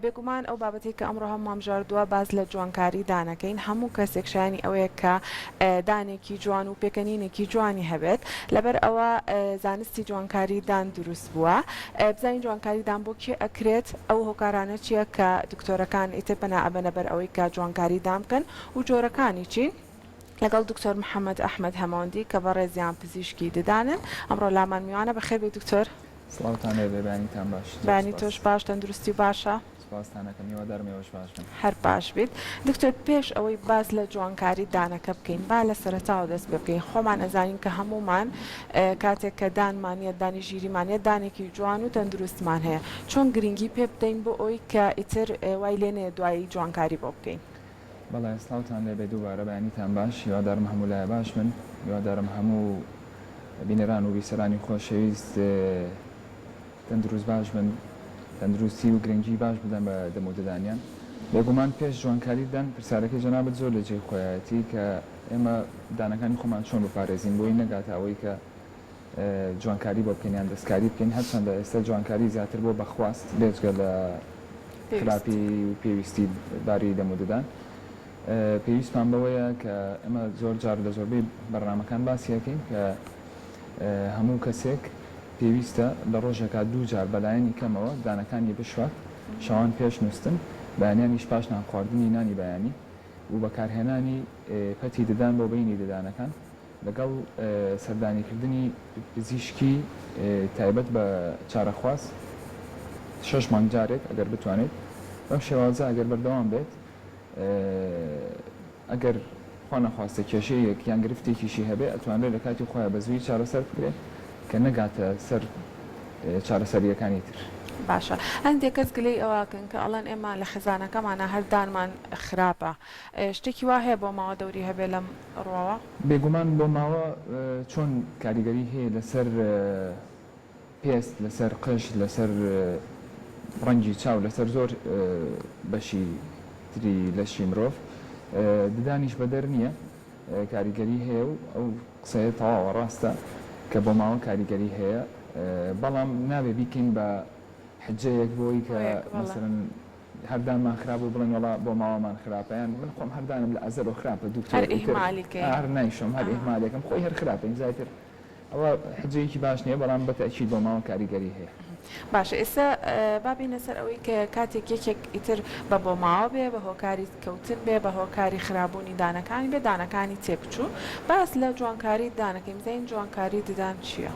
بێگومان ئەو بابەتەی کە ئەمڕۆ هەموومان بژاردووە باس لە جوانکاری دان ئەکەین، هەموو کەسێک شایەنی ئەوەیە کە دانێکی جوان و پێکەنینێکی جوانی هەبێت، لەبەر ئەوە زانستی جوانکاری دان دروست بووە، بزانین جوانکاری دان بۆ کێ ئەکرێت، ئەو هۆکارانە چییە کە دکتۆرەکان ئیتر پەنا ئەبەنە بەر ئەوەی کە جوانکاری دان بکەن و جۆرەکانی چین؟ لەگەڵ دکتۆر محەمەد ئەحمەد هەمەوەندی کە بەڕێزیان پزیشکی ددانن ئەمڕۆ لامان میوانە، بەخێربێی دکتۆر. سڵاوتان لێ بێ بەیانیتان باش زۆر بەیانی سوپاس. تۆش باش تەندروستی باشە. سوپاستان ئەکەم هیوادارم ئێوەش باش بن. هەر باش بیت دکتۆر پێش ئەوەی باس لە جوانکاری دانەکە بکەین با لە سەرەتاوە دەست پێ بکەین خۆمان ئەزانین کە هەموومان کاتێک کە دانمان یەت دانی ژیریمان یەت دانێکی جوان و تەندروستمان هەیە چۆن گرینگی پێ بدەین بۆ ئەوەی کە ئیتر وای لێ نەیەت دوایی جوانکاری بۆ بکەین. بەڵێ سڵاوتان لێبێ دووبارە بەیانیتان باش هیوادارم هەموو لایە باش بن هیوادارم هەموو بینەران و بیسەرانی خۆشەویست تەندروست باش بن تەندروستی و گرنگی باش بدەن بە دەم و ددانیان بێگومان پێش جوانکاری ددان پرسیارەکەی جەنابت زۆر لە جێی خۆیایەتی کە ئێمە ددانەکانی خۆمان چۆن بپارێزین بۆی نەگاتە ئەوەی کە جوانکاری بۆ بکەین یان دەستکاری بکەین هەرچەندە ئێستا جوانکاری زیاتر بۆ بە خواست بێجگە لە خراپی و پێویستی باری دەم و ددان پێویستمان بەوەیە کە ئەمە زۆر جار لە زۆربەی بەرنمەکان باسیەکەین کە هەموو کەسێک پێویستە لە ڕۆژێکا دوو جار بەلایەنی کەمەوە دانەکانی بشوات شەوان پێش نووسن بەیانیانیش پاش نان خواردنی نانی بەیانی و بەکارهێنانی پەتی ددان بۆ بینی ددانەکان لەگەڵ سەردانیکردنی پزیشکی تایبەت بە چارەخواز شەش مانگ جارێک ئەگەر بتوانێت بەم شێوازە ئەگەر بەردەوام بێت ئەگەر خوانەخواستە کێشەیەک یان گرفتێکیشی هەبێت ئەتوانرێت لە کاتی خۆیان بە زوویی چارەسەر بکرێت کە نەگاتە سەر چارەسەرییەکانی تر. باشە هەندێک کەس گلەی ئەوە ئەکەن کە ئەڵێن ئێمە لە خێزانەکەمانا هەر دانمان خراپە ئێ شتێکی وا هەیە بۆ ماوە دەوری هەبێت لەم ڕواوە؟ بێگومان بۆ ماوە چۆن کاریگەری هەیە لەسەر پێست لەسەر قژ لەسەر ڕەنگی چاو لەسەر زۆر بەشی تری لەشی مرۆڤ ددانیش بەدەر نیە کاریگەری هەیە و ئەو قسەیە تەواوە ڕاستە کە بۆ ماوە کاریگەری هەیە بەڵام نابێ بیکەین بە حجەیەک بۆی کە مەسەلەن هەر دانمان خراپ بوو بڵێن وەڵا بۆ ماوامان خراپە یان من خۆم هەر دانم لە ئەزەلۆ خراپە دوکتۆر ئیتر هەر نایشۆم هەر ئیهمالێکم خۆی هەر خراپە ئینجا ئیتر ئەوە حجەیەکی باش نیە بەڵام بە تەئکید بۆ ماوە کاریگەری هەیە. باشە ئێستا با بێینە سەر ئەوەی کە کاتێک یەکێک ئیتر بە بۆ ماوە بێ بە هۆکاری کەوتن بێ بە هۆکاری خرابوونی دانەکانی بێ دانەکانی تێکچوو باس لە جوانکاری ددان بکەین بزانین جوانکاری ددان چیە؟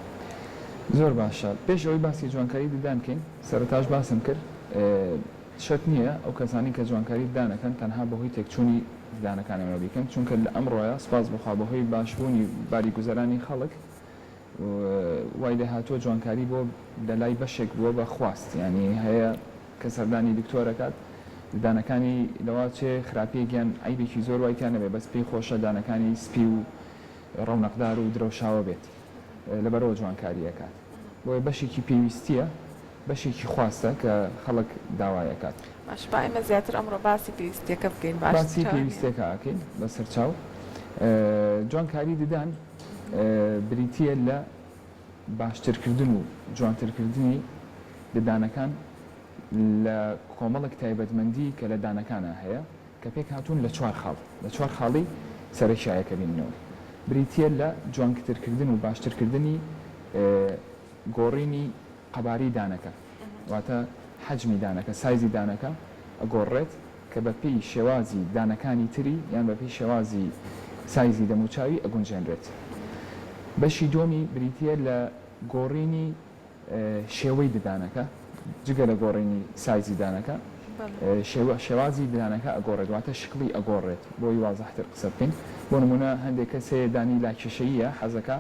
زۆر باشە پێش ئەوەی باسی جوانکاری ددان بکەین سەرەتاش باسم کرد شەک نییە ئەو کەسانەی کە جوانکاری ددان ئەکەن تەنها بەهۆی تێکچوونی ددانەکان ئەمە بیکەن چونکە لە ئەمڕۆیە سوپاس بخوا بەهۆی باشبوونی باری گوزەرانی خەڵک وای لێهاتووە جوانکاری بۆ لە لای بەشێک بووە بە خواست یانی هەیە کە سەردانی دکتۆر ئەکات ددانەکانی لەوا چێ خراپیەک یان عەیبێکی زۆر وای تیا نەبێت بەس پێی خۆشە دانەکانی سپی و ڕەونەقدار و درەوشاوە بێت. لەبەرئەوە جوانکاری ئەکات بۆیە بەشێکی پێویستیە بەشێکی خواستە کە خەڵک داوای ئەکات. باشە با ئێمە زیاتر ئەمڕۆ باسی پێویستیەکە بکەین باشترە باسی پێویستیەکە ئەکەین بەسەرچاو جوانکاری ددان بریتیە لە باشترکردن و جوانترکردنی ددانەکان لە کۆمەڵێک تایبەتمەندی کە لە دانەکانا هەیە کە پێکهاتوون لە چوار خاڵ، لە چوار خاڵی سەرەکیایە کە بیننەوە بریتییە لە جوانکترکردن و باشترکردنی گۆڕینی قەبارەی دانەکە، واتە حەجمی دانەکە، سایزی دانەکە ئەگۆڕرێت کە بەپێی شێوازی دانەکانی تری یان بەپێی شێوازی سایزی دەموچاوی ئەگونجێنرێت. بەشی دووەمی بریتییە لە گۆڕینی. شێوەی ددانەکە جگە لە گۆڕینی سایزی دانەکە شێوازی ددانەکە ئەگۆڕێت واتە شکڵی ئەگۆڕێت بۆی وازحتر قسە بکەین بۆ نمونە هەندێک کەس هەیە دانی لاکێشەییە حەزەکا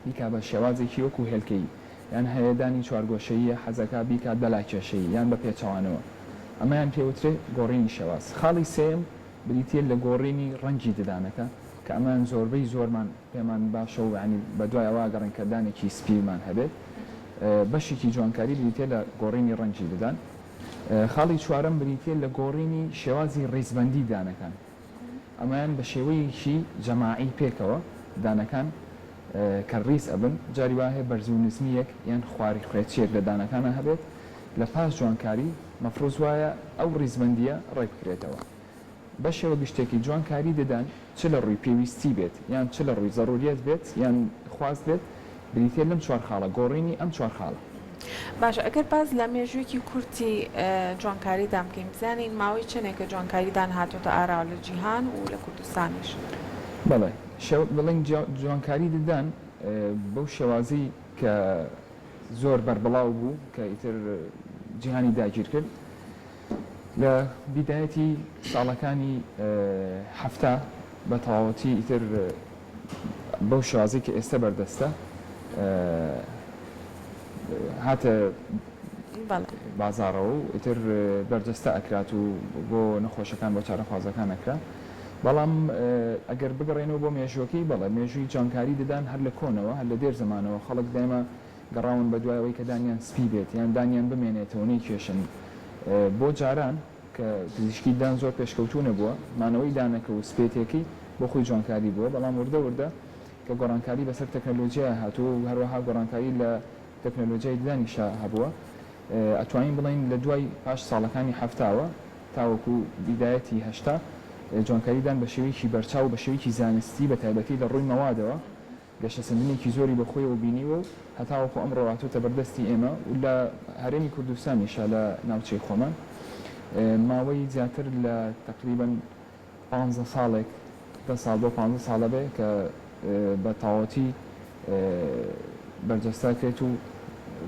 بیکا بە شێوازێکی وەکو هێلکەیی یان هەیە دانی چوارگۆشەییە حەزەکا بیکات بە لاکێشەیی یان بە پێچەوانەوە ئەمەیان پێوترێ گۆڕینی شێواز خاڵی سێم بریتیە لە گۆڕینی ڕەنگی ددانەکە کە ئەمان زۆربەی زۆرمان پێمان باشە و یانی بە دوای ئەوە ئەگەڕێین کە دانێکی سپیمان هەبێت. بەشێکی جوانکاری بریتییە لە گۆڕینی ڕەنگی ددان. خاڵی چوارەم بریتییە لە گۆڕینی شێوازی ڕیزبەندی دانەکان. ئەمەیان بە شێوەیەکی جەماعی پێکەوە دانەکان کە ڕیز ئەبن. جاری وا هەیە بەرزو نزمییەک یان خواری خوێچییەک لە دانەکانا هەبێت. لە پاش جوانکاری مەفروز وایە ئەو ڕیزبەندییە ڕێک بکرێتەوە. بەشێوە گشتێکی جوان کاری ددان چ لە ڕووی پێویستی بێت یان چ لە ڕووی زەروریەت بێت یان خواست بێت بریتیە لەم چوار خاڵە گۆڕینی ئەم چوار خاڵە. باشە ئەگەر باس لە مێژوویەکی کورتی جوانکاریدان بکەین بزانین ماوەی چەنێکە جوانکاریدان هاتۆتە ئاراوە لە جیهان و لە کوردستانیش؟ بەڵێ شێوە دەڵێن جوانکاری ددان بەو شێوازەی کە زۆر بەربڵاو بوو کە ئیتر جیهانی داگیر کرد، لە بیدایەتی ساڵەکانی حەفتا بە تەواوەتی ئیتر بەو شێوازەی کە ئێستە بەردەستە هاتە بازاڕەوە و ئیتر بەرجەستە ئەکرات و بۆ نەخۆشەکان بۆ چارەخوازەکان ئەکرا بەڵام ئەگەر بگەڕێنەوە بۆ مێژوەکەی بەڵێ مێژووی جانکاری ددان هەر لە کۆنەوە هەر لە دێر زمانەوە خەڵک دایمە گەڕاون بە دوای ئەوەی کە دانیان سپی بێت یان دانیان بمێنێتەوە نەیکێشن بۆ جاران کە پزیشکی دان زۆر پێشکەوتوو نەبووە مانەوەی دانەکە و سپێتێکەی بۆ خۆی جوانکاری بووە بەڵام وردە وردە کە گۆڕانکاری بەسەر تەکنەلۆجیایە هاتووە و هەروەها گۆڕانکاری لە تەکنەلۆجیای ددانیشا هەبووە ئەتوانین بڵێین لە دوای پاش ساڵەکانی حەفتاوە تاوەکو بیدایەتی هەشتا جوانکاری دان بە شێوەیەکی بەرچاو و بە شێوەیەکی زانستی بە تایبەتی لە ڕووی مەوادەوە گەشەسەندنێکی زۆری بە خۆیەوە بینیوە و هەتاوەکو ئەمڕۆ هاتۆتە بەر دەستی ئێمە و لە هەرێمی کوردستانیشە لە ناوچەی خۆمان ماوەی زیاتر لە تەقریبەن پانزە ساڵێک دە ساڵ بۆ پانزە ساڵە بێ کە بە تاوەتی بەرجەستە ئەکرێت و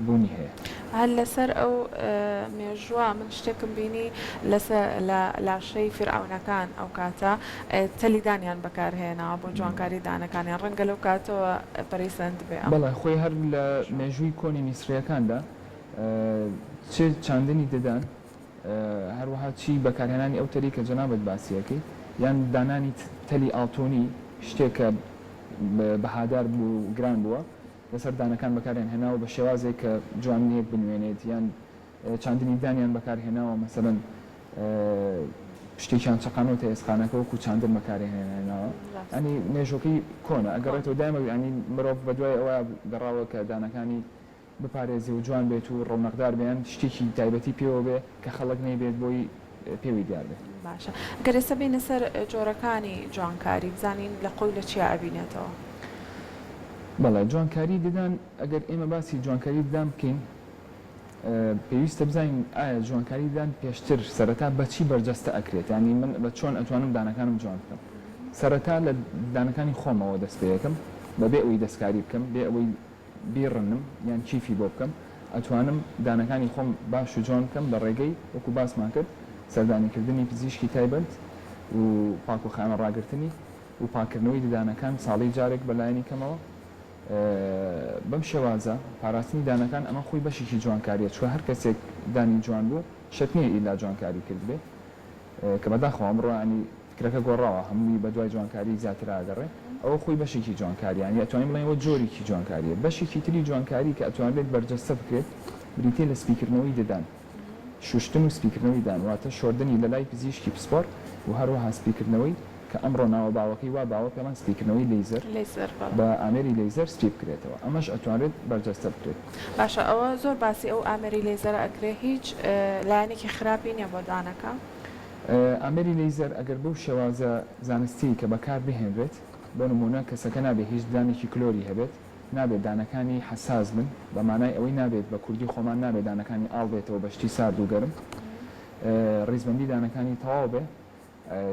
بوونی هەیە. هەر لەسەر ئەو مێژووە من شتێکم بینی لەسە لە لاشەی فیرعەونەکان ئەو کاتە تەلی دانیان بەکار هێناوە بۆ جوانکاری دانەکانیان ڕەنگە لەو کاتەوە پەرەی سەندبێ ئەم. بەڵێ خۆی هەر لە مێژووی کۆنی میسریەکاندا چێ چاندنی ددان هەروەها چی بەکارهێنانی ئەو تەلی کە جەنابت باسی ئەکەی یان دانانی تەلی ئاڵتونی شتێک کە بەهادار بوو گران بووە لەسەر دانەکان بەکاریان هێناوە بە شێوازێک کە جوانییەک بنوێنێت یان چاندنی دانیان بەکار هێناوە مەسەلەن شتێکیان چەقانەوەتە ئێسقانەکە وەکو چاندن بەکاری هێناوە ئەنی مێژۆکەی کۆنە ئەگەڕێتەوە دایمە ئەنی مرۆڤ بە دوای ئەوە گەڕاوە کە دانەکانی بپارێزێ و جوان بێت و ڕەونەقدار بیان شتێکی تایبەتی پێوە بێ کە خەڵک نەیبێت بۆی پێووی دیار بێت. باشە گەر ئێستا بێینە سەر جۆرەکانی جوانکاری بزانین لە قوی لە چیا ئەبینێتەوە. بەڵێ جوانکاری ددان ئەگەر ئێمە باسی جوانکاری ددان بکەین پێویستە بزانین ئایا جوانکاری ددان پێشتر سەرەتا بە چی بەرجەستە ئەکرێت یانی من بە چۆن ئەتوانم دانەکانم جوان بکەم سەرەتا لە دانەکانی خۆمەوە دەست پێ ئەکەم بەبێ ئەوەی دەستکاری بکەم بێ ئەوەی بیڕنم یان کیفی بۆ بکەم ئەتوانم دانەکانی خۆم باش و جوان بکەم لە ڕێگەی وەکو باسمان کرد سەردانی کردنی پزیشکی تایبەت و پاک و خانە ڕاگرتنی و پاک کردنەوەی ددانەکان ساڵی جارێک بە لایەنی کەمەوە بەم شێوازە پاراستنی دانەکان ئەمە خۆی بەشێکی جوانکاریە چوە هەر کەسێک دانی جوان بوو شەت نیە ئیلا جوانکاری کردبێ کە بەداخەوە ئەمڕۆ ینی فکرەکە گۆڕاوە هەمووی بە دوای جوانکاری زیاترا ئەگەڕێ ئەوە خۆی بەشێکی جوانکاریە یانی ئەتوانین بڵێین ئەوە جۆرێکی جوانکاریە بەشێکی تری جوانکاری کە ئەتوانرێت بەرجەستە بکرێت بریتیە لە سپیکردنەوەی ددان شوشتن و سپیکردنەوەی ددان واتە شۆردنی لە لای پزیشکی پسپۆڕ و هەروەها سپیکردنەوەی کە ئەمڕۆ ناوە باوەکەی وا باوە پێمان سپیکردنەوەی لەیزەر بە ئامێری لەیزەر سپی بکرێتەوە ئەمەش ئەتوانرێت بەرجەستە بکرێت. باشە ئەوە زۆر باسی ئەو ئامێری لەیزەرە ئەکرێ هیچ لایەنێکی خراپی نیە بۆ ددانەکە؟ ئامێری لەیزەر ئەگەر بەو شێوازە زانستیەی کە بەکار بهێنرێت، بۆ نموونە کەسەکە نابێت هیچ ددانێکی کلۆری هەبێت، نابێت دانەکانی حەساس بن، بە مانای ئەوەی نابێت بە کوردی خۆمان نابێت دانەکانی ئاڵ بێتەوە بە شتی سارد و گەرم، ڕیزبەندی دانەکانی تەواو بێ،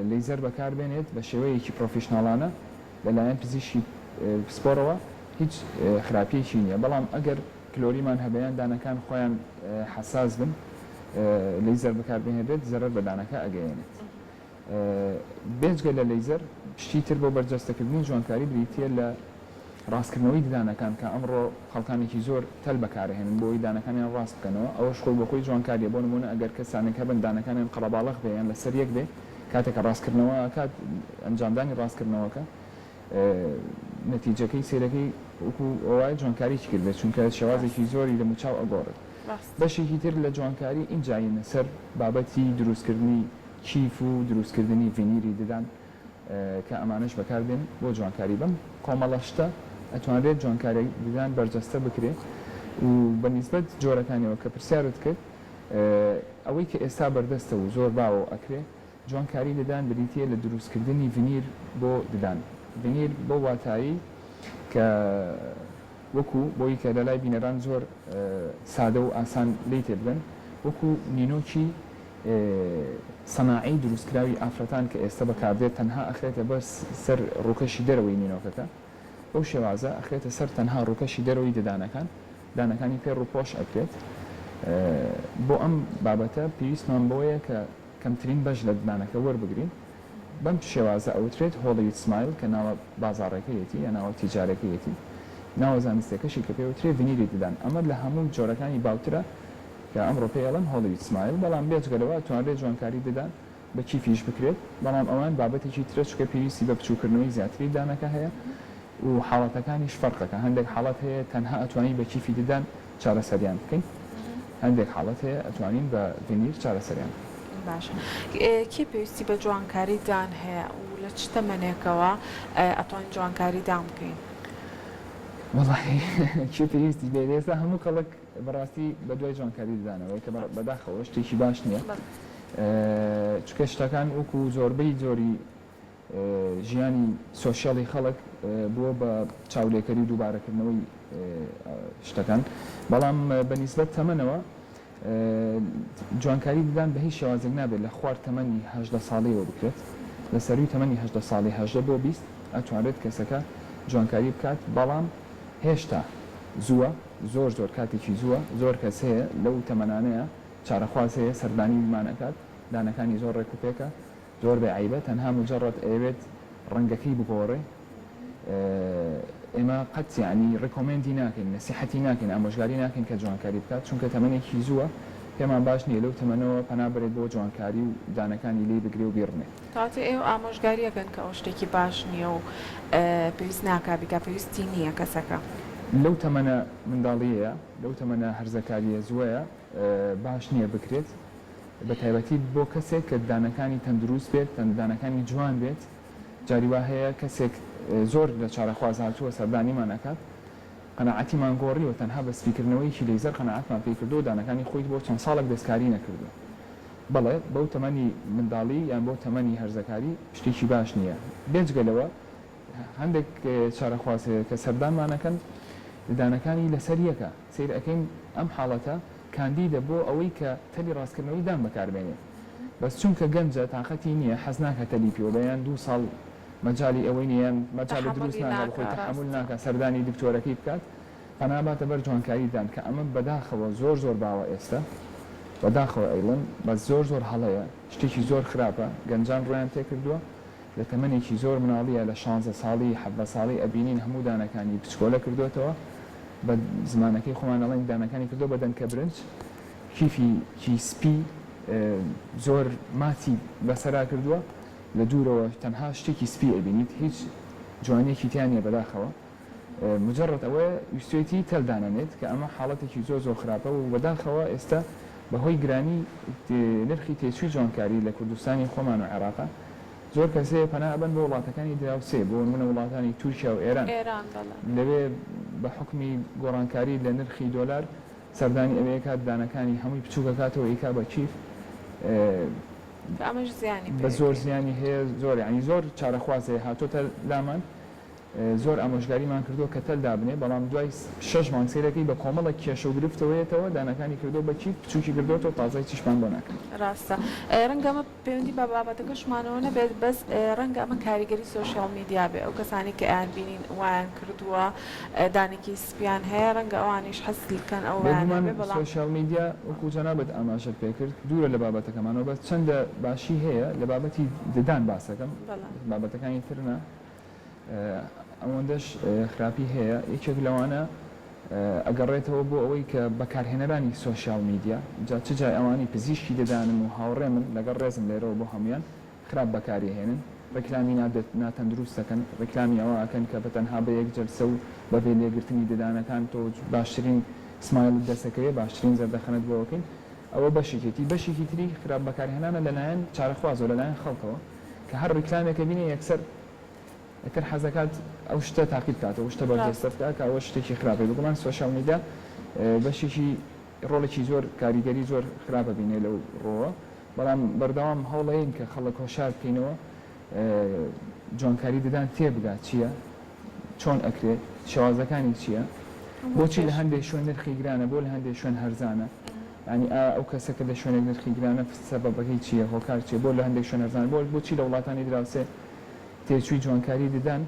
لەیزەر بەکار بێنێت بە شێوەیەکی پرۆفیشناڵانە لە لایەن پزیشکی پسپۆڕەوە هیچ خراپیەکی نیە، بەڵام ئەگەر کلۆریمان هەبێ یان دانەکان خۆیان حەساس بن لەیزەر بەکار بهێنرێت زەرەر بە دانەکە ئەگەیەنێت. بێجگە لە لەیزەر شتی تر بۆ بەرجەستە کردنی جوانکاری بریتییە لە ڕاستکردنەوەی ددانەکان کە ئەمڕۆ خەڵکانێکی زۆر تەل بەکارئەهێنن بۆ ئەوەی دانەکانیان ڕاست بکەنەوە ئەوەش خۆی بۆ خۆی جوانکارییە بۆ نموونە ئەگەر کەسانێک هەبن دانەکانیان قەرەباڵەخ بێ یان لەسەر یەک بێ کاتێک کە ڕاستکردنەوە ئەکات ئەنجامدانی ڕاستکردنەوەکە نەتیجەکەی سەیرەکەی وەکو وایە جوانکاریی کردبێت چونکە شێوازێکی زۆری دەموچاو ئەگۆڕێت بەشێکی تر لە جوانکاری ئینجا یینە سەر بابەتی دروستکردنی کیف و دروستکردنی ڤینیری ددان کە ئەمانەش بەکاردێن بۆ جوانکاری بەم کۆمەڵە شتە ئەتوانرێت جوانکاری ددان بەرجەستە بکرێ و بە نیسبەت جۆرەکانیەوە کە پرسیارت کرد ئەوەی کە ئێستا بەردەستە و زۆر باوەو ئەکرێ جوانکاری ددان بریتییە لە دروستکردنی ڤینیر بۆ ددان، ڤینیر بەو واتایەی کە وەکو، بۆی کە لەلای بینەران زۆر سادە و ئاسان لێی تێبگەن، وەکو نینۆکی سەناعی دروستکراوی ئافرەتان کە ئێستە بەکاردێت تەنها ئەخرێتە بەر سەر ڕووکەشی دەرەوەی نینۆکەکە، بەو شێوازە ئەخرێتە سەر تەنها ڕووکەشی دەرەوەی ددانەکان، دانەکانی پێ ڕووپۆش ئەکرێت، بۆ ئەم بابەتە پێویستمان بەوەیە کە. کەمترین بەش لە ددانەکە وەربگرین، بەم شێوازە ئەوترێت Hollywood Smile کە ناوە بازاڕێکەیەتی یا ناوە تیجارەکەیەتی، ناوە زانستیەکەشی کە پێوترێ ڤینیری ددان، ئەمە لە هەموو جۆرەکانی باوترە کە ئەمڕۆ پێی ئەڵێن Hollywood Smile، بەڵام بێجگە لەوە ئەتوانرێت جوانکاری ددان بە کیفیش بکرێت، بەڵام ئەوان بابەتێکی ترە چونکە پێویستی بە بچوکردنەوەی زیاتری ددانەکە هەیە و حاڵەتەکانیش فەرقەکە، هەندێک حاڵەت هەیە تەنها ئەتوانی بە کیفی ددان. چارەسەریان بکەین هەندێک حاڵەت هەیە ئەتوانین بە ڤینیر چارەسەریان بکەین. باشە کێ پێویستی بە جوانکاری دان هەیە و لە چ تەمەنێکەوە ئەتوانین جوانکاری دان بکەین؟ وەڵاهی کێ پێویستی بێت ئێستا هەموو کەڵک بەڕاستی بە دوای جوانکاری ددانەوەیە کە بەداخەوە شتێکی باش نییە چونکە شتەکان وەکو زۆربەی جۆری ژیانی سۆشیالی خەڵک بووە بە چاولێکەری و دووبارەکردنەوەی شتەکان بەڵام بە نیسبەت تەمەنەوە جوانکاری ددان بە هیچ شێوازێک نابێت لە خوار تەمەنی هەژدە ساڵیەوە بکرێت لە سەرووی تەمەنی هەژدە ساڵی هەژدە بۆ بیست ئەتوانرێت کەسەکە جوانکاری بکات بەڵام هێشتا زووە زۆر زۆر کاتێکی زووە زۆر کەس هەیە لەو تەمەنانەیە چارەخواز هەیە سەردانی بمان ئەکات دانەکانی زۆر ڕێک و پێکە زۆر بێ عەیبە تەنها مجەڕەد ئەیەوێت ڕەنگەکەی بگۆڕێ ئێمە قەت یەعنی ڕیکۆمێندی ناکەین نەسیحەتی ناکەین ئامۆژگاری ناکەین کە جوانکاری بکات چونکە تەمەنێکی زووە پێمان باش نیە لەو تەمەنەوە پەنا بەرێت بۆ جوانکاری و دانەکانی لێی بگرێ و بیڕمێ. کەواتە ئێوە ئامۆژگاری ئەکەن کە ئەوە شتێکی باش نیە و پێویست ناکا بیکا پێویستی نیە کەسەکە. لەو تەمەنە منداڵیەیە لەو تەمەنە هەرزەکاریە زوەیە باش نیە بکرێت. بەتایبەتی بۆ کەسێک کە ددانەکانی تەندروست بێت ددانەکانی جوان بێت جاری وا هەیە کەسێک زۆر لە چارەخواز هاتووە سەردانیمان ئەکات قەناعەتیمان گۆڕیوە تەنها بە سپیکردنەوەیەکی لەیزەر قەناعەتمان پێی کردووە دانەکانی خۆی بۆ چەند ساڵێک دەستکاری نەکردووە بەڵێ بەو تەمەنی منداڵی یان بۆ تەمەنی هەرزەکاری شتێکی باش نییە بێجگە لەوە هەندێک چارەخواز هەیە کە سەردانمان ئەکەن ددانەکانی لەسەر یەکە. سەیر ئەکەین ئەم حاڵەتە کاندیدە بۆ ئەوەی کە تەلی ڕاستکردنەوەی دان بەکار بێنێت بەس چونکە گەنجە تاقەتی نیە حەز ناکا تەلی پێوە بێ یان دوو ساڵ مەجالی ئەوەی نیە یان مەجالی دروست تەحەمولی ناکا بەخۆی ناکا تەحەمول ڕاستە. ناکا سەردانی دکتۆرەکەی بکات پەنا باتە بەر جوانکاری دان کە ئەمە بەداخەوە زۆر زۆر باوە ئێستە بەداخەوە ئەیڵێم بەس زۆر زۆر هەڵەیە شتێکی زۆر خراپە گەنجان ڕوویان تێکردووە لە تەمەنێکی زۆر مناڵیە لە شانزە ساڵی حەڤدە ساڵی ئەبینین هەموو دانەکانی بچکۆلە کردۆتەوە بە زمانەکەی خۆمان ئەڵێن دانەکانی کردۆ بە دەنکە برنج کیفی کی سپی زۆر ماچی بەسەرا کردوە لە دوورەوە تەنها شتێکی سپی ئەبینیت هیچ جوانیەکی تیا نیە بەداخەوە. مجەڕەد ئەوەیە ویستوێتی تەل دانەنێت کە ئەمە حاڵەتێکی زۆر زۆر خراپە و بەداخەوە ئێستا بە هۆی گرانی نرخی تێچووی جوانکاری لە کوردستانی خۆمان و عێراق زۆر کەس هەیە پەنا ئەبەن بۆ وڵاتەکانی دراوسێ بۆ نموونە وڵاتانی تورکیا و ئێران لەوێ بە حوکمی گۆڕانکاری لە نرخی دۆلار سەردانی ئەوێ ئەکات دانەکانی هەمووی بچووک ئەکاتەوە ئیکا بە کیف کە ئەمەش زیانی پێ بە زۆر زیانی هەیە زۆر یانی زۆر چارەخواز هەیە هاتۆتە لامان. زۆر ئامۆژگاریمان کردووە کە تەل دابنێ بەڵام دوای شەش مانگ سەیرەکەی بە کۆمەڵێک کێشە و گرفتەوە یەتەوە دانەکانی کردووە بە کیف بچووکی کردۆتەوە و تازای چیشمان بۆ ناکات. ڕاستە ڕەنگە ئەمە پەیوەندی بە بابەتەکەشمانەوە نەبێت بەس ڕەنگە ئەمە کاریگەری سۆشیاڵ میدیا بێ ئەو کەسانەی کە ئەیان بینین وایان کردووە دانەکی سپیان هەیە ڕەنگە ئەوانیش حەز لکەن ئەو وایان بێ بێگومان بەڵام سۆشیاڵ میدیا وەکو جەنابت ئاماژەت پێ کرد دوورە لە بابەتەکەمانەوە بەس چەندە باشی هەیە لە بابەتی ددان باسەکەم بەڵێ. بابەتەکانی تر نا ئەوەندەش خراپی هەیە یەکێک لەوانە ئەگەڕێتەوە بۆ ئەوەی کە بەکارهێنەرانی سۆشیال میدیا جا چ جای ئەوانەی پزیشکی ددانن و هاوڕێمن لەگەڵ ڕێزم لێرەوە بۆ هەموویان خراپ بەکاریئهێنن ڕیکلامی نا ناتەندروست ئەکەن ڕیکلامی ئەوە ئەکەن کە بەتەنها بە یەک جەلسە و بەبێ لێگرتنی ددانەکان تۆ باشترین سمایلت دەسەکەوێ باشترین زەردەخەنەت بۆ ئەکەین ئەوە بەشێکێتی بەشێکی تری خراپ بەکارهێنانە لەلایەن چارەخوازەوە لەلایەن خەڵکەوە. کە هەر ڕیکلامێکە بینێ یەکسەر یەکتر حەزەکات ئەو شتە تاقی بکات و شتە بەرجەستە بکات کە ئەوە شتێکی خراپی بگومان سۆشیال میدیا بەشێکی ڕۆڵێکی زۆر کاریگەری زۆر خراپە بینێ لەو ڕۆوە بەڵام بەردەوام هەوڵەین کە خەڵک هۆشار بکەینەوە جوانکاری ددان تێبگات چییە چۆن ئەکرێ؟ شێوازەکانی چیە؟ بۆچی لە هەندێ شوێن نرخی گرانە بۆ لە هەندێ شوێن هەرزانە؟ یانی ئایا ئەو کەسە کە لە شوێنێک نرخی گرانە سەبەبەکەی چیە؟ هۆکار چیە بۆ لە هەندێ شوێن هەرزانە؟ بۆ بۆچی لە وڵاتانی دراوسێ تێچووی جوانکاری ددان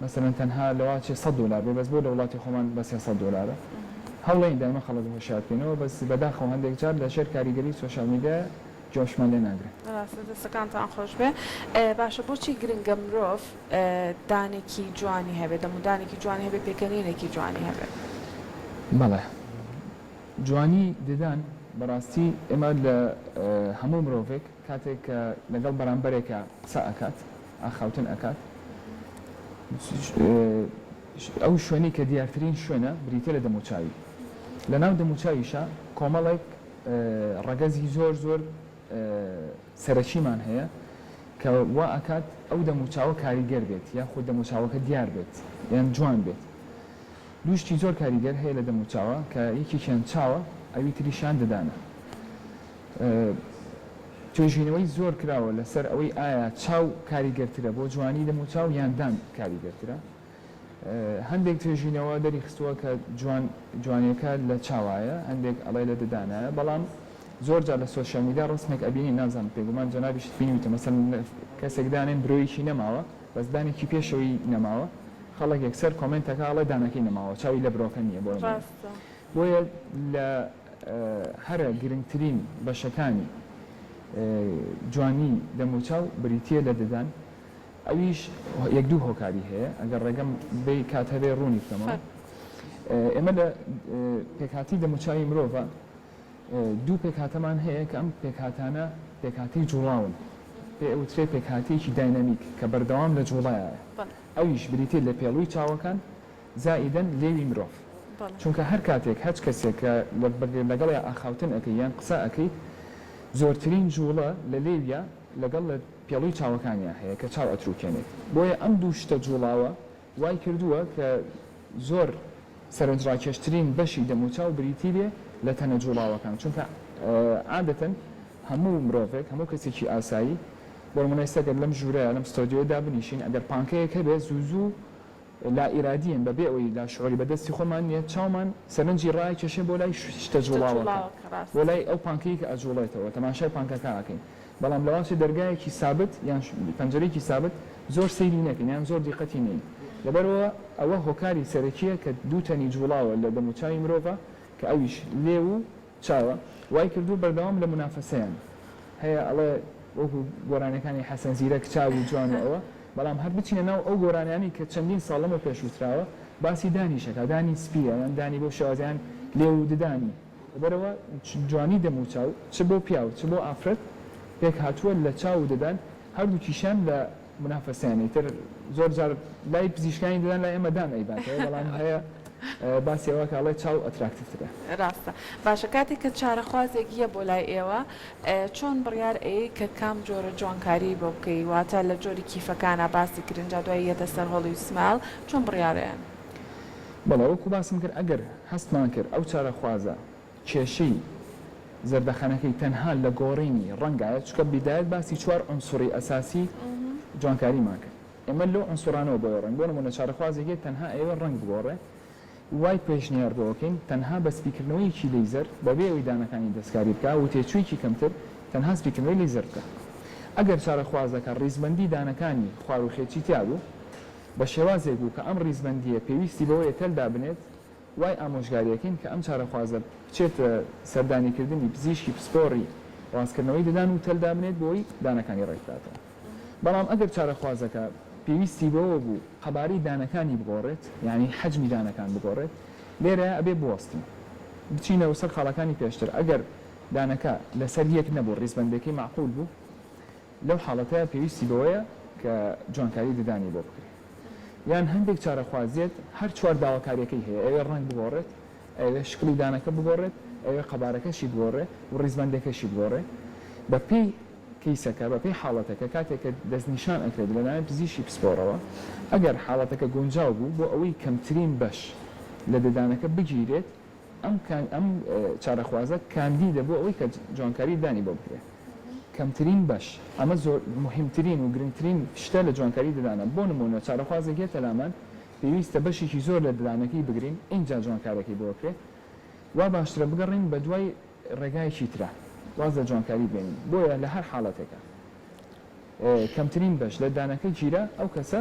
مەسەلەن تەنها لەوە چێ سەد دۆلار بێ بەس بۆ لە وڵاتی خۆمان بە سێ سەد دۆلارە؟ هەوڵێین دایمە خەڵک هۆشیار بکەینەوە بەس بەداخەوە هەندێک جار لە ژێر کاریگەری سۆشیال میدیایە جوابشمان لێ ناگرن. ڕاستە دەستەکانتان خۆشبێ باشە بۆچی گرنگە مرۆڤ دانێکی جوانی هەبێ دەمودانێکی جوانی هەبێ پێکەنینێکی جوانی هەبێ. بەڵێ جوانی ددان بەڕاستی ئێمە لە هەموو مرۆڤێک کاتێک کە لەگەڵ بەرامبەرێکا قسە ئەکات ئاخاوتن ئەکات ئەو شوێنەی کە دیارترین شوێنە بریتیە لە دەموچاوی لەناو دەموچاویشا کۆمەڵێک ڕەگەزی زۆر زۆر سەرەکیمان هەیە کە وا ئەکات ئەو دەموچاوە کاریگەر بێت یاخود دەموچاوەکە دیار بێت یان جوان بێت دوو شتی زۆر کاریگەر هەیە لە دەموچاوە کە یەکێکیان چاوە ئەوی تریشیان ددانە توێژینەوەی زۆر کراوە لەسەر ئەوەی ئایا چاو کاریگەرترە بۆ جوانی دەموچاو یان دان کاریگەرترە هەندێک توێژینەوە دەریخستووە کە جوان جوانیەکە لە چاوایە هەندێک ئەڵێ لە ددانایە بەڵام زۆر جار لە سۆشیال میدیا ڕسمێک ئەبینی نازان پێگومان جەنابیشت بینیوتە مەسەن کەسێک دانێن برۆیەکی نەماوە بەس دانێکی پێشەوەی نەماوە خەڵک یەکسەر کۆمنتەکە ئەڵێ دانەکەی نەماوە چاوی لە برۆکە نییە بۆ بۆیە لە هەرە گرنگترین بەشەکانی جوانی دەموچاو بریتە لە ددان ئەویش یەک دوو هۆکاری هەیە، ئەگەر ڕێگەم بێی کات هەبێ ڕوونی بکەمەوە. ئێمە لە پێکهاتەی دەموچاوی مرۆڤە دوو پێکهاتەمان هەیە کە ئەم پێکهاتانە پێکهاتەی جوڵاون پێ ئەوترێ پێکهاتەیەکی داینامیک کە بەردەوام لە جوڵایە ئەویش بریتیە لە پێڵوی چاوەکان زائیدەن لێوی مرۆڤ چونکە هەر کاتێک هەچ کەسێک کە لەگەڵیا ئاخاوتن ئەکەی یان قسە ئەکەیت زۆرترین جوڵە لە لێویا لەگەڵ لە پێڵوی چاوەکانیا هەیە کە چاو ئەتروکێنێت بۆیە ئەم دوو شتە جوڵاوە وای کردووە کە زۆر سەرنجڕاکێشترین بەشی دەموچاو بریتی بێ لە تەنە جوڵاوەکان چونکە عادەتەن هەموو مرۆڤێک هەموو کەسێکی ئاسایی بۆنمونە ئێستا گەر لەم ژورەیا لەم ستۆدیۆیە دابنیشین ئەگەر پانکەیەک هەبێ زوو زوو لا ئیرادیەن بە بێ ئەوەی لا شعوری بە دەستی خۆمان نیە چاومان سەرنجی ڕاکێشێ بۆ لای شتە جوڵاوەکە بۆ لای ئەو پانکەی کە ئەجوڵێتەوە تەماشای پانکەکە ئەکەین بەڵام لە واچێ دەرگایەکی سابت یان پەنجەرەیەکی سابت زۆر سەیری نەکەین یان زۆر دیقەتی نەین لەبەرئەوە ئەوە هۆکاری سەرەکیە کە دوو تەنی جوڵاوە لە دەموچاوی مرۆڤ کە ئەویش لێو و چاوە وای کردووە بەردەوام لە مونافەسەیان هەیە ئەڵێ وەکو گۆرانیەکانی حەسەن زیرەک چاوی جوان و ئەوە بەڵام هەر بچینە ناو ئەو گۆرانیانەی کە چەندین ساڵ لەمەو پێش وتراوە باسی دانیش ئەکا دانی سپیە یان دانی بەو شێوازە یان لێو و ددانی لەبەرئەوە جوانی دەم و چاو چ بۆ پیاو چ بۆ ئافرەت پێکهاتووە لە چاو و ددان هەردووکیشیان لە منافەسەیانی تر زۆر جار لای پزیشکانی ددان لای ئێمە دان ئەیباتەوە بەڵام هەیە باسی ئەوە کە ئەڵێ چاو ئەتراکتیڤ ترە. ڕاستە. باشە کاتێک کە چارەخوازێک یە بۆ لای ئێوە چۆن بڕیار ئەیەی کە کام جۆرە جوانکاریی بۆ بکەی واتە لە جۆری کیفەکانا باسی کرین جا دوای یەتە سەر هۆڵی و سمایل چۆن بڕیار ئەیەن؟ بەڵێ وەکو باسم کرد ئەگەر هەستمان کرد ئەو چارەخوازە کێشەی زەردەخەنەکەی تەنها لە گۆڕینی ڕەنگایە، چونکە بیدایەت باسی چوار عونسوری ئەساسی جوانکاریمان کرد، ئێمە لەو عونسورانەوە بۆیە ڕۆین، بۆ نمونە چارەخوازێک هەیە تەنها ئەیەوێت ڕەنگ بگۆڕێ، وای پێشنیار بۆ ئەکەین تەنها بە سپیکردنەوەیەکی لەیزەر بەبێ ئەوەی دانەکانی دەستکاری بکا و تێچوویەکی کەمتر تەنها سپیکردنەوەی لەیزەر بکا. ئەگەر چارەخوازەکە ڕیزبەندی دانەکانی خواروخێچی تیابوو بە شێوازێک بوو کە ئەم ڕیزبەندییە پێویستی بەوەیە تەل دابنێت وای ئامۆژگارییەکەین کە ئەم چارەخوازە بچێتە سەردانیکردنی پزیشکی پسپۆڕی ڕاستکردنەوەی ددان و تەل دابنێت بۆی دانەکانی ڕێکبداتەوە بەڵام ئەگەر چارەخوازەکە پێویستی بەوە بوو قەبارەی دانەکانی بگۆڕێت یانی حەجمی دانەکان بگۆڕێت لێرە ئەبێ بوەستین بچینە سەر خاڵەکانی پێشتر ئەگەر دانەکە لەسەر یەک نەبوو ڕیزبەندێکەی مەعقول بوو لەو حاڵەتە پێویستی بەوەیە کە جوانکاری ددانی بۆ بکرێت. یان هەندێک چارەخوازیەت هەر چوار داواکاریەکەی هەیە ئەوێ ڕەنگ بگۆڕێت ئەوێ شکڵی دانەکە بگۆڕێت ئەوێ قەبارەکەشی بگۆڕێ و ڕیزبەندەکەشی بگۆڕێ بەپێی کەیسەکە بەپێی حاڵەتەکە کاتێک کە دەستنیشان ئەکرێت لەلایەن پزیشکی پسپۆڕەوە ئەگەر حاڵەتەکە گونجاو بوو بۆ ئەوەی کەمترین بەش لە ددانەکە بگیرێت ئەم ئەم چارەخوازە کاندیدە بۆ ئەوەی کە جوانکاری دانی بۆ بکرێت کەمترین بەش ئەمە زۆر مهمترین و گرنگترین شتە لە جوانکاری ددانە بۆ نمونە چارەخوازێک یەتە لامان پێویستە بەشێکی زۆر لە ددانەکەی بگرین ئینجا جوانکارەکەی بۆ کرێت وا باشترە بگەڕین بە دوای ڕێگایەکی ترە واز لە جوانکاری بێنین بۆیە لە هەر حاڵەتێکە کەمترین بەش لە دانەکە گیرا ئەو کەسە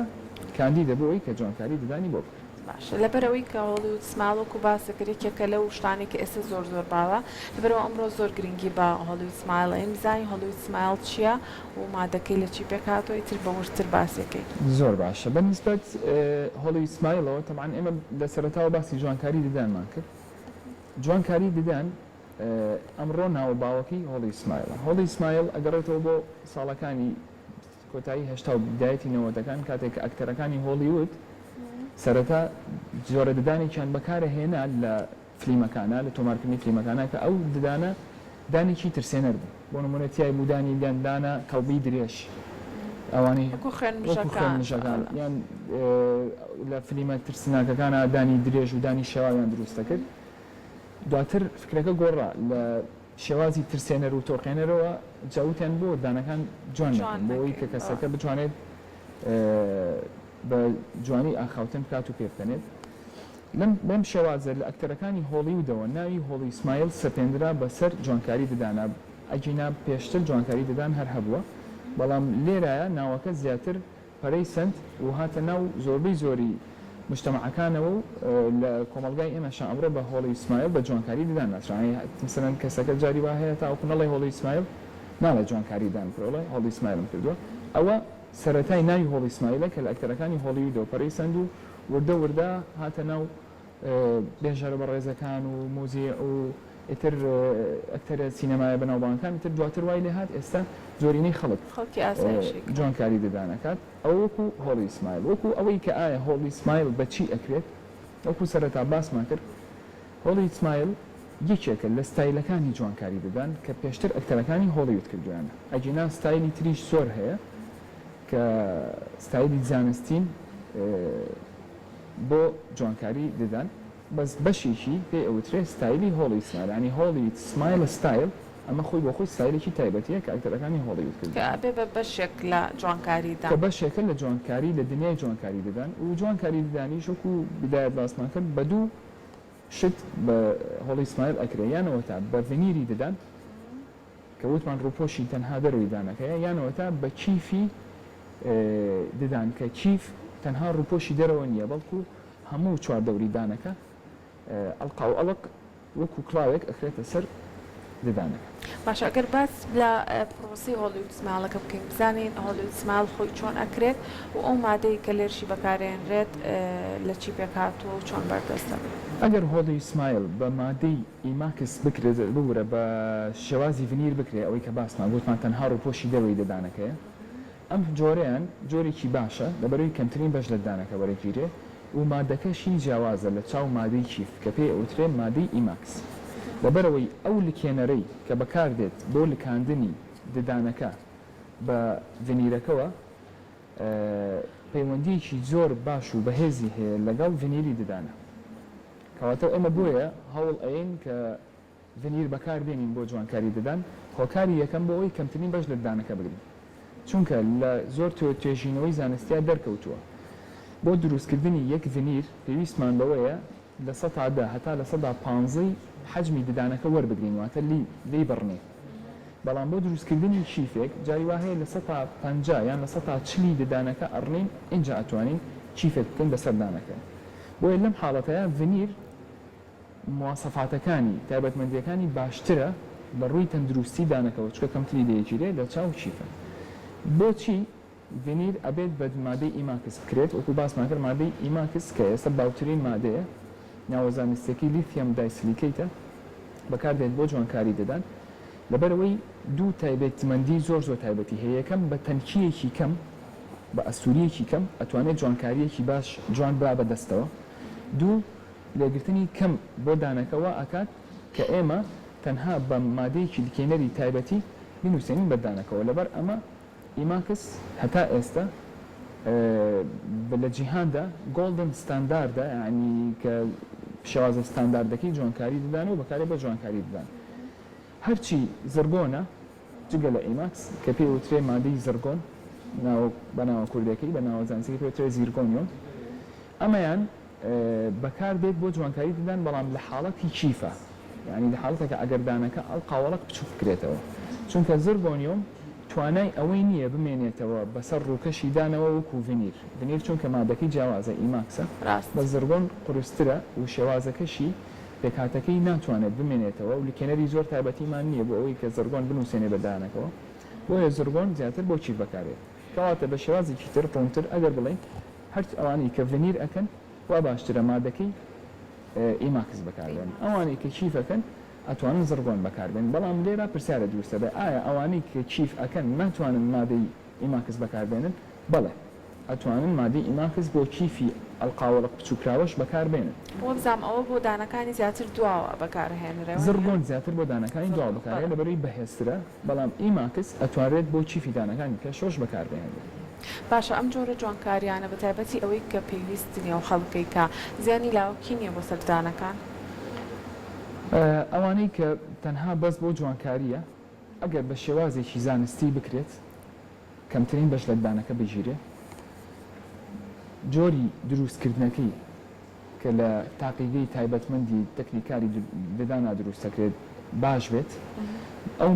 کاندیدە بۆ ئەوی کە جوانکاری ددانی بۆ بکرێت. باشە لەبەرئەوەی کە هۆڵیود سمایڵ وەکو باست دەکرێت یەکێکە لەو شتانەی کە ئێستا زۆر زۆر باوە لەبەرئەوە ئەمڕۆ زۆر گرنگی بە هۆڵیود سمایڵ ئەین بزانین هۆڵیود سمایڵ چیە و مادەکەی لە چی پێک هاتوە ئیتر بە وردتر باسی کەین. زۆر باشە بە نیسبەت هۆڵیود سمایڵەوە تەبعەن ئێمە لە سەرەتاوە باسی جوانکاری ددانمان کرد جوانکاری ددان ئەمڕۆ ناو و باوەکەی هۆڵی سمایلە. هۆڵی سمایل ئەگەڕێتەوە بۆ ساڵەکانی کۆتایی هەشتا و بدایەتی نەوەتەکان کاتێک کە ئەکتەرەکانی هۆڵیوود سەرەتا جۆرە ددانێکیان بەکارە هێنا لە فلیمەکانا لە تۆمارکردنی فلیمەکانا کە ئەو ددانە دانێکی ترسێنەر بوو بۆ نموونە تیای بوو دانی گەندانە کەڵبی درێژ ئەوانەی وەکو خوێن مژەکان یان لە فلیمە ترسناکەکانا دانی درێژ و دانی شێواویان دروست دەکرد. دواتر فکرەکە گۆڕا لە شێوازی ترسێنەر و تۆقێنەرەوە جا وتیان بۆ دانەکان جوان نەکەین بۆ ئەوەی کە کەسەکە بتوانێت بە جوانی ئاخاوتن بکات و پێبکەنێت لەم بەم شێوازە لە ئەکتەرەکانی هۆڵیودەوە ناوی هۆڵی سمایل سەپێندرا بەسەر جوانکاری ددانە ئەگینا پێشتر جوانکاری ددان هەر هەبووە بەڵام لێرایە ناوەکە زیاتر پەرەی سەند و هاتە ناو زۆربەی زۆری موجتەمەعەکانەوە و لە کۆمەڵگای ئێمەشا ئەمڕۆ بە هۆڵی سمایل بە جوانکاری ددان ناسراوە یانی مەسەلەن کەسەکە جاری وا هەیە تاوەکو نەڵێ هۆڵی سمایل ناڵێ جوانکاری ددان بکە بڵێ هۆڵی سمایلم کردووە ئەوە سەرەتای ناوی هۆڵی سمایلە کە لە ئەکتەرەکانی هۆڵیودەوە پەرەی سەند و وردە وردە هاتە ناو بێژەرە بەڕێزەکان و موزیع و ئیتر ئەکتەرە سینەمایە بەناوبانگەکان ئیتر دواتر وای لێ هات ئێستا زۆرینەی خەڵک خەڵکی ئاسایشی کرد. جۆن کاری ددان ئەکات ئەوە وەکو هۆڵی سمایل وەکو ئەوەی کە ئایا هۆڵی سمایل بە چی ئەکرێت وەکو سەرەتا باسمان کرد هۆڵی سمایل یەکێکە لە ستایلەکانی جوانکاری ددان کە پێشتر ئەکتەرەکانی هۆڵیود کردوویانە ئەگینا ستایلی تریش زۆر هەیە کە ستایلی زانستین بۆ جوانکاری ددان بەس بەشێکی پێی ئەوترێ ستایلی هۆڵی سمایل یانی هۆڵی سمایل ستایل ئەمە خۆی بۆ خۆی ستایلێکی تایبەتیە کە ئەکتەرەکانی هۆڵیود کردوە. کە ئەبێ بە بەشێک لە جوانکاری کە ددان. بەشێکە لە جوانکاری لە دنیای جوانکاری ددان و جوانکاری ددانیش وەکو بدایەت باسمان کرد بە دوو شت بە هۆڵی سمایل ئەکرێ یان ئەوەتا بە ڤنیری ددان کە وتمان ڕووپۆشی تەنها دەرەوەی دانەکەیە یان ئەوەتا بە کیفی ددان کە کیف تەنها ڕووپۆشی دەرەوە نییە بەڵکو هەموو چواردەوری دانەکە ئەڵقاو ئەڵق وەکو کڵاوێک ئەخرێتە سەر ددانەکە. باشە ئەگەر باس لە پڕۆسەی هۆلیود سمایڵەکە بکەین بزانین هۆلیود سمایڵ خۆی چۆن ئەکرێت و ئەو مادەی کە لێرشی بەکارێنرێت لە چی پێکهاتووە و چۆن بەردەستە؟ ئەگەر هۆلیود سمایڵ بە مادەی ئیماکس بکرێت ببورە بە شێوازی ڤنیر بکرێت ئەوەی کە باسمان گوتمان تەنها ڕووپۆشی دەرەوەی ددانەکەیە ئەم جۆرەیان جۆرێکی باشە لەبەرەوەی کەمترین بەش لە ددانەکە وەرەگیرێ و مادەکەشی جیاوازە لە چاو مادەی کیف کە پێی ئەوترێ مادەی ئیماکس لەبەرەوەی ئەو لکێنەرەی کە بەکاردێت بۆ لکاندنی ددانەکە بە ڤنیرەکەوە پەیوەندیەکی زۆر باش و بەهێزی هەیە لەگەڵ ڤنیری ددانە کەواتە ئێمە بۆیە هەوڵ ئەیەین کە ڤنیر بەکار بێنین بۆ جوانکاری ددان هۆکاری یەکەم بۆ ئەوەی کەمترین بەش لە ددانەکە بگرین چونکە لە زۆر توێژینەوەی زانستیا دەرکەوتووە بۆ دروستکردنی یەک ڤنیر پێویستمان بەوەیە لە سەتا دە هەتا لە سەدا پانزەی حەجمی ددانەکە وەربگرین واتە لێی بڕنێ بەڵام بۆ دروستکردنی کیفێک جاری وا هەیە لە سەتا پەنجا یان لە سەتا چلی ددانەکە ئەڕنین ئینجا ئەتوانین کیفێک بکەین بەسەر دانەکە بۆیە لەم حاڵەتەیا ڤنیر مواسەفاتەکانی، تایبەتمەندیەکانی، باشترە لە ڕووی تەندروستی دانەکەوە چونکە کەمتری دەیەگیرێ لە چاو کیفە بۆچی؟ ڤینیر ئەبێت بە مادەی ئیماکس بکرێت، وەکو باسمان کرد مادەی ئیماکس کە ئێستا باوترین مادەیە ناوە زانستیەکەی لیثیەم دایسلیکەیتە بەکار دێت بۆ جوانکاری ددان لەبەر ئەوەی دوو تایبەیتمەندی زۆر زۆر تایبەتی هەیە یەکەم بە تەنکیەکی کەم بە ئەستوریەکی کەم ئەتوانێت جوانکاریەکی باش جوان با بە دەستەوە دوو لێگرتنی کەم بۆ دانەکە وا ئەکات کە ئێمە تەنها بە مادەیەکی لکێنەری تایبەتی بنوسێنین بەر دانەکەوە لەبەر ئەمە ئیماکس هەتا ئێستە لە جیهاندا گۆڵدن ستانداردە یانی کە شێوازە ستانداردەکەی جوانکاری ددان و بەکارێ بۆ جوانکاری ددان هەرچی زڕگۆنە جگە لە ئیماکس کە پێی وترێ مادەی زڕگۆن ناوە بە ناوە کوردێکەی بە ناوە زانسیەکەی پێ وترێ زیرگۆنیۆم ئەمەیان بەکار دێت بۆ جوانکاری ددان بەڵام لە حاڵەتی کیفە یانی لە حاڵەتێکە ئەگەر دانەکە ئەو قاوەڵەک بچووک بکرێتەوە چونکە زربۆنیۆم توانای ئەوەی نییە بمێنێتەوە بەسەر ڕووکەشی دانەوە وەکوو ڤنیر ڤنیر چونکە مادەکەی جیاوازە ئیماکسە ڕاست. لە زربۆن قورسترە و شێوازەکەشی پێکهاتەکەی ناتوانێت بمێنێتەوە و لکێنەری زۆر تایبەتیمان نییە بۆ ئەوەی کە زربۆن بنووسێنێ بە دانەکەوە بۆیە زربۆن زیاتر بۆ کیف بەکار دێت کەواتە بە شێوازێکی تر ڕوونتر ئەگەر بڵێین هەرچ ئەوانەی کە ڤنیر ئەکەن وا باشترە مادەکەی ئیماکس بەکاربێنن ئەوانەی کە کیف ئەکەن ئەتوانن زڕگۆن بەکاربێنن بەڵام لێرە پرسیارە دروستە بێ ئایا ئەوانەی کە کیف ئەکەن ناتوانن مادەی ئیماکس بەکاربێنن بەڵێ ئەتوانن مادەی ئیماکس بۆ کیفی ئەڵقاوەڵق بچوککراوەش بەکاربێنن. وەبزام ئەوە بۆ دانەکانی زیاتر دواوە بەکارئەهێنرێ وانیە؟ زڕگۆن زیاتر بۆ دانەکانی دواوە بەکارئەهێنرێ لەبەروی بەهێزترە بەڵام ئیماکس ئەتوانرێت بۆ چیفی دانەکانی پێشڕەش بەکاربهێنرێت. باشە ئەم جۆرە جوانکاریانە بە تایبەتی ئەوەی کە پێویست نیە و خەڵکیکە زیانی لاوەکی نیە بۆ سەر دانەکان؟ ئەوانەی کە تەنها بەس بۆ جوانکاریە ئەگەر بە شێوازێکی زانستی بکرێت. کەمترین بەش لەددانەکە بگیرێت جۆری دروست کردنەکەی کە لە تاقیگەی تایبەتمەندی تەکنیکاری ددانا دروست دەکرێت باش بێت ئەو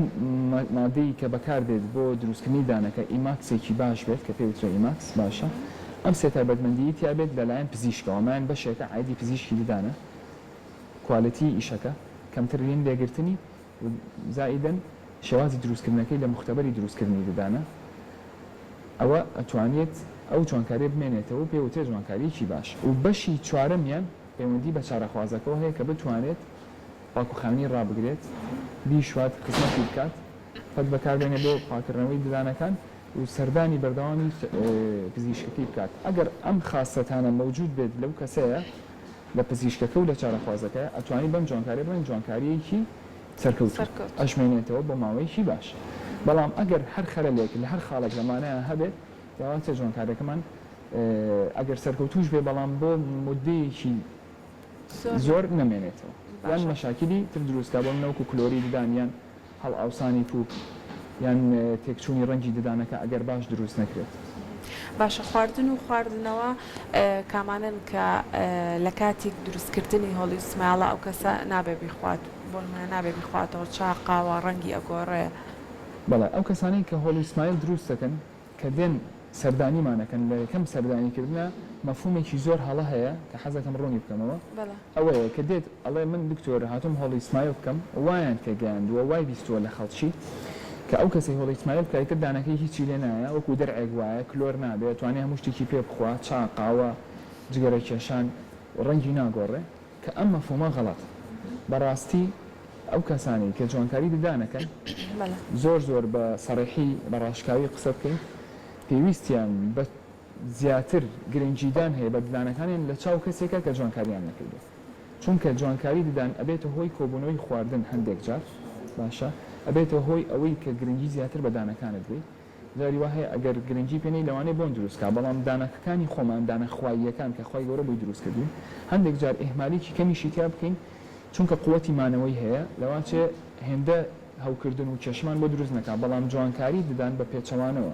مادەی کە بەکاردێت بۆ دروستکردنی دانەکە ئیماکسێکی باش بێت کە پێوترە ئیماکس باشە ئەم سێ تایبەتمەندی تیابێت لەلایەن پزیشکەوە مایان بەشێکە عادی پزیشکی ددانە کوالێتی ئیشەکە کەمترین لێگرتنی و زائیدەن شێوازی دروستکردنەکەی لە موختەبەری دروستکردنی ددانە ئەوە ئەتوانێت ئەو جوانکاریە بمێنێتەوەو پێ وترێت جوانکاریەکی باش و بەشی چوارەمیان پەیوەندی بە چارەخوازەکەوە هەیە کە بتوانێت پاکوخاوێنی ڕابگرێت بیشوات خزمەتی بکات پەت بەکاربێنێت بۆ پاکردنەوەی ددانەکان و سەردانی بەردەوامی پزیشکەکەی بکات ئەگەر ئەم خاسەتانە مەوجود بێت لەو کەسەیە لە پزیشکەکە و لە چارەخوازەکە ئەتوانی بەم جوانکاریە بڵێن جوانکاریەکی سەرکەوتوو سەرکەوتوو. ئەژمێنێتەوە بۆ ماوەیەکی باش بەڵام ئەگەر هەر خەلەلێک لە هەر خاڵێک لەمانەیان هەبێت ئەواتە جوانکاریەکەمان ئەگەر سەرکەوتووش بێ بەڵام بۆ مودەیەکی زۆر زۆر نەمێنێتەوە یان باشە. مەشاکیلی تر دروستکا بۆ منە وەکو کلۆری ددان یان هەڵئاوسانی پووک یان تێکچوونی ڕەنگی ددانەکە ئەگەر باش دروست نەکرێت. باشە خواردن و خواردنەوە کامانەن کە لە کاتیک دروست کردنی هۆڵی سمایڵە ئەو کەسە نابێ بیخوات بۆ نمونە نابێ بیخواتەوە چا قاوە ڕەنگی ئەگۆڕێ. بەڵێ ئەو کەسانەی کە هۆڵی سمایل دروست دەکەن کە دێن سەردانیمان ئەکەن لە یەکەم سەردانی کردنا مەفهومێکی زۆر هەڵە هەیە کە حەزەکەم ڕوونی بکەمەوە ئەوەیە کە دێت ئەڵێ من دکتۆر هاتووم هۆڵی سمایل بکەم وایان تێ گەیاندووە وای بیستووە لە خەڵکی کە ئەو کەسەی هۆڵی سمایل بکا ئیتر دانەکەی هیچی لێ نایە وەکوو دەرعێک وایە کلۆر نابێ ئەتوانێ هەموو شتێکی پێ بخوا چا قاوە جگەرە کێشان ڕەنگی ناگۆڕێ. کە ئەم مەفهومە غەڵەتە. بەڕاستی ئەو کەسانەی کە جوانکاری ددانەکەن زۆر زۆر بە سەڕیحی بە ڕاشکاوی قسە بکەین پێویستیان بە زیاتر گرنگیدان هەیە بە ددانەکانیان لە چاو کەسێکا کە جوانکاریان نەکردوە چونکە جوانکاری ددان ئەبێتە هۆی کۆبونەوەی خواردن هەندێک جار باشە ئەبێتە هۆی ئەوەی کە گرنگی زیاتر بە دانەکانت بی جاری وا هەیە ئەگەر گرنگی پێنەی لەوانەیە بۆن دروست کا بەڵام دانەکەکانی خۆمان دانە خواییەکان کە خوای گەورە بۆی دروست کردوین هەندێک جار ئیهمالیکی کەمیشی تیا بکەین چونکە قوەتی مانەوەی هەیە لەواچێ هێندە هەوکردن و کێشەمان بۆ دروست نەکا بەڵام جوانکاری ددان بە پێچەوانەوە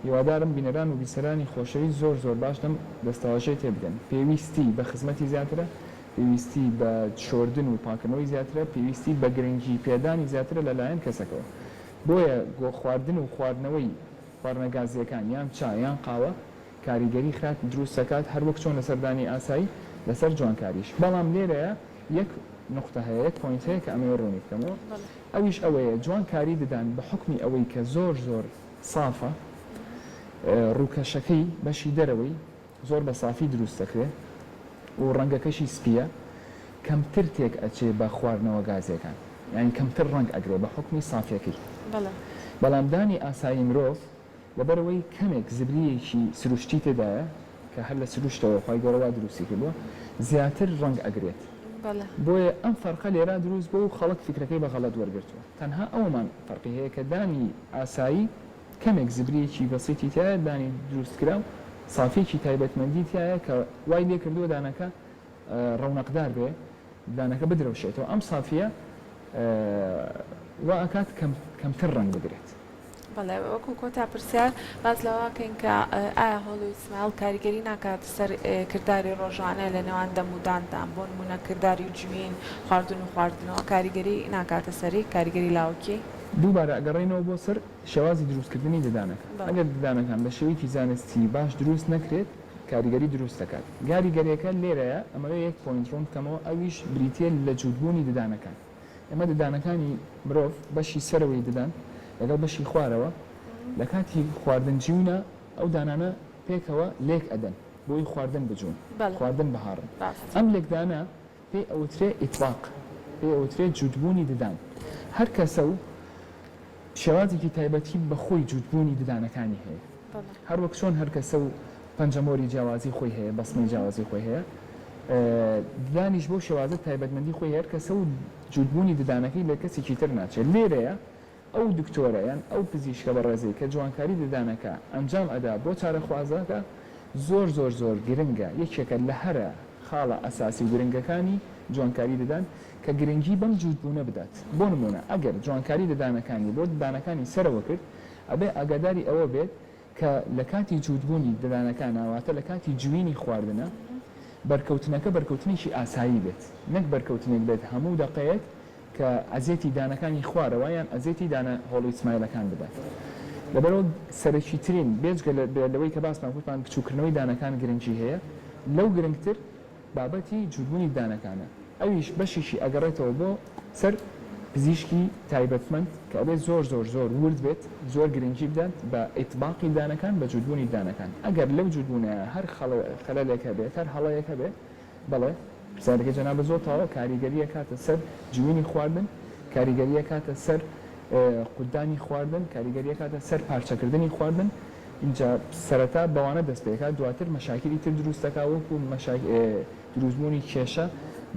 هیوادارم بینەران و بیسەرانی خۆشەویست زۆر زۆر باش لەم دەستەواژەیە تێ بگەن پێویستی بە خزمەتی زیاترە پێویستی بە شۆردن و پاکردنەوەی زیاترە پێویستی بە گرنگی پێدانی زیاترە لە لایەن کەسەکەوە. بۆیە گۆخواردن و خواردنەوەی خواردنە گازییەکان یان چا یان قاوە کاریگەری خراپ دروست دەکات هەروەک چۆن لەسەر دانی ئاسایی لەسەر جوانکاریش بەڵام لێرەیا یەک نوقتە هەیە یەک پۆینت هەیە کە ئەمەوێ ڕوونی بکەمەوە ئەویش ئەوەیە جوان کاری ددان بە حوکمی ئەوەی کە زۆر زۆر سافە ڕووکەشەکەی بەشی دەرەوەی زۆر بە سافی دروست دەکرێ و ڕەنگەکەشی سپییە کەمتر تێک ئەچێ بە خواردنەوە گازییەکان یانی کەمتر ڕەنگ ئەگرێ بە حوکمی سافیەکەی بەڵام دانی ئاسایی مرۆڤ لەبەرئەوەی کەمێک زبرییەکی سروشتی تێدایە کە هەر لە سروشتەوە خوای گەورە وا دروستی کردووە زیاتر ڕەنگ ئەگرێت بۆیە ئەم فەرقە لێرا دروست بووە و خەڵک فیکرەکەی بە غەڵەت وەرگرتووە تەنها ئەوەمان فەرقی هەیە کە دانی ئاسایی کەمێک زبریەکی بەسیتی تیایە دانی دروست کراو سافیەکی تایبەتمەندی تیایە کە وای لێ کردووە دانەکە ڕەونەقدار بێ دانەکە بدرەوشێتەوە ئەم سافیە وا ئەکات کەم کەمتر ڕەنگ بگرێت. بەڵێ وەکو کۆتا پرسیار باس لەوەکەین کە ئایا هۆڵی و سمایڵ کاریگەری ناکات سەر کرداری ڕۆژانە لە نێوان دەم و داندا بۆ نمونە کرداری جوین خواردن و خواردنەوە کاریگەری ناکاتە سەری کاریگەری لاوەکی؟ دووبارە ئەگەڕێینەوە بۆ سەر شێوازی دروستکردنی ددانەکان، ئەگەر ددانەکان بە شێوەیەکی زانستی باش دروست نەکرێت کاریگەری دروست دەکات، گاریگەرێکە لێرەیە ئەمەوێ یەک پۆینت ڕوون بکەمەوە ئەویش بریتیە لە جووتبوونی ددانەکان، ئێمە ددانەکانی مرۆڤ بەشی سەرەوەی ددان لەگەڵ بەشی خوارەوە لە کاتی خواردن جوونە ئەو دانانە پێکەوە لێک ئەدەن بۆی خواردن بجوون خواردن بهاڕن ئەم لێکدانە پێی ئەوترێ ئیتباق پێی ئەوترێ جووتبوونی ددان هەر کەسە و شێوازێکی تایبەتی بە خۆی جووتبوونی ددانەکانی هەیە، هەروەک چۆن هەر کەسە و پەنجەمۆری جیاوازی خۆی هەیە، بەستنەی جیاوازی خۆی هەیە، ددانیش بەو شێوازە تایبەتمەندی خۆی هەر کەسە و جووتبوونی ددانەکەی لە کەسێکی تر ناچێت، لێرەیە ئەو دکتۆرە یان ئەو پزیشکە بەڕێزەی کە جوانکاری ددانەکە ئەنجام ئەدا بۆ چارەخوازەکە زۆر زۆر زۆر گرنگە، یەکێکە لە هەرە خاڵە ئەساسی و گرنگەکانی جوانکاری ددان. کە گرنگی بەم جووتبوونە بدات، بۆ نموونە ئەگەر جوانکاری لە دانەکانی بۆ ددانەکانی سەرەوە کرد، ئەبێ ئاگاداری ئەوە بێت کە لە کاتی جووتبوونی ددانەکانە، واتە لە کاتی جوینی خواردنە، بەرکەوتنەکە بەرکەوتنێکی ئاسایی بێت، نەک بەرکەوتنێک بێت هەموو دەقەیەک کە ئەزێتی دانەکانی خوارەوە یان ئەزێتی دانە هۆڵی سمایلەکان بدات. لەبەرئەوە سەرەکیترین، بێجگە لەوەی کە باسمان کرد، بچووککردنەوەی دانەکان گرنگی هەیە، لەو گرنگتر، بابەتی جووتبوونی ددانەکانە ئەویش بەشێکی ئەگەڕێتەوە بۆ سەر پزیشکی تایبەتمەند کە ئەبێت زۆر زۆر زۆر وورد بێت زۆر گرنگی بدات بە ئیتباقی ددانەکان بە جووتبوونی ددانەکان ئەگەر لەو جووتبوونەیا هەر خەلەلێک هەبێت هەر هەڵەیەک هەبێت بەڵێ پرسیارەکەی جەنابت زۆر تەواوە کاریگەری ئەکاتە سەر جوینی خواردن کاریگەری ئەکاتە سەر قوتدانی خواردن کاریگەری ئەکاتە سەر پارچەکردنی خواردن. ئینجا سەرەتا بەوانە دەست پێکات دواتر مەشاکیلی تر دروست دەکات وەکو دروست بوونی کێشە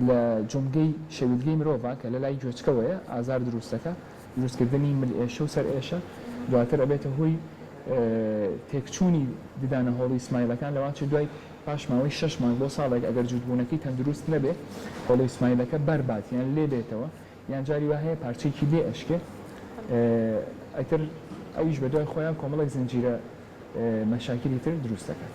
لە جومگەی شەویلگەی مرۆڤا کە لەلای گوێچکەوەیە ئازار دروست دەکا دروست کردنی مل ئێشە و سەر ئێشە دواتر ئەبێتە هۆی تێک چوونی ددانە هۆڵی سمایلەکان لەوانچە دوای پاش ماوەی شەش مانگ بۆ ساڵێک ئەگەر جووت بوونەکەی تەندروست نەبێ هۆڵی سمایلەکە بەر بات یان لێ بێتەوە یان جاری وا هەیە پارچەیەکی لێ ئەشکێ ئیتر ئەویش بەدوای خۆیان کۆمەڵێک زنجیرە مەشاکیلی تر دروست دەکات.